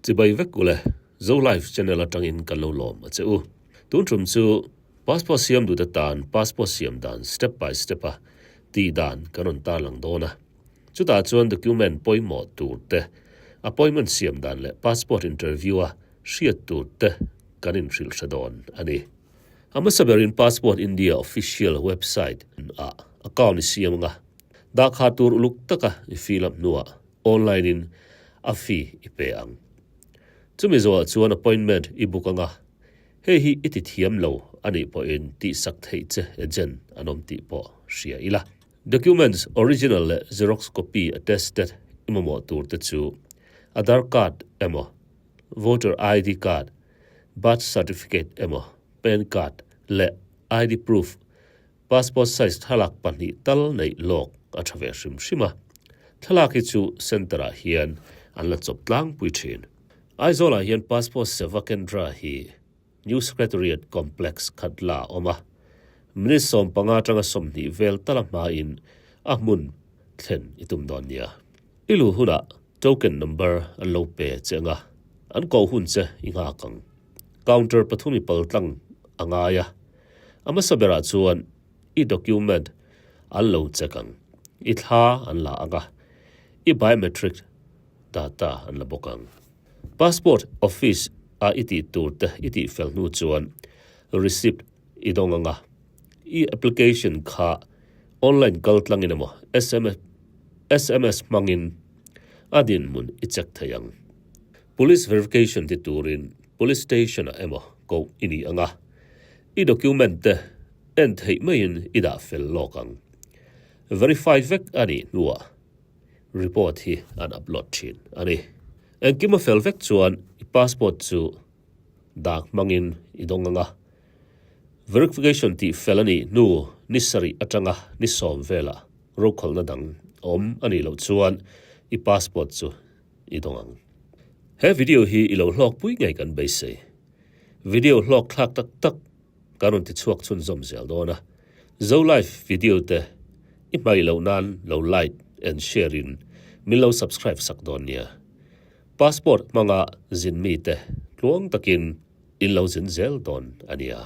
Chibai vek ule, Zo Life channel atangin kan lo lawm a che u. Tun thum chu, Passport siam duhte tan Passport siam dan step by step a tih dan kan rawn tarlang dawn a. Chutah chuan document pawimawh tur te, appointment siam dan leh Passport interview a hriat tur te kan inhrilh hre dawn a ni. A hmasa berin Passport India official website ah account i siam anga dahkha tur uluk taka i fill up hnuah online in a fee i pay ang. Chumi zawhah chuan appointment i book anga hei hi i ti thiam lo a nih pawhin tihsak theih che agent an awm tih pawh hria ila. Documents original leh xerox copy attested i mamawh tur te chu Aadhar card emaw Voter ID card Birth Certificate emaw, Pan Card leh ID Proof, Passport Size thlalak pahnih tal neih lawk a tha ve hrim hrim a. Thlalak hi chu Centre ah hian an la chawp tlangpui thin. Aizawl ah hian Passport Seva Kendra hi New Secretariat Complex khat la awm a, minute sawm panga atanga sawmhnih vel tala hmain a hmun thlen i tum dawn nia. I luh hunah token number an lo pe che ang a, an koh hun che i nghak ang. Counter pathum i pal tlang a ngai a, a hmasa berah chuan i document an lo check ang. I thla an la ang a, i biometric data an la bawk ang. Passport office-a i tih tur te i tih fel hnu chuan receipt I dawng ang a, i application kha online kal tlangin emaw sms sms hmangin a dinhmun i check thei ang. Police verification ti turin police station ah emaw ko i ni ang a, i document te en theih maiin i dah fel lawk ang. Verify vek a nih hnuah report hi an upload thin a ni. Engkim a fel vek chuan i passport chu Dak hmangin i dawng ang a. Verification tih fel a nih hnu ni sarih atanga ni sawm velah rokhawlhna dang awm a nih loh chuan i passport chu i dawng ang. He video hi i lo hlawk pui ngei kan beisei. Video hlawk thlak tak tak kan rawn ti chhuak chhun zawm zel dawn a. Zo live video te i hmai loh nan lo like and share in min lo subscribe sak dawn nia. Passport hmanga zin mite tluang takin in lo zin zel dawn a nia.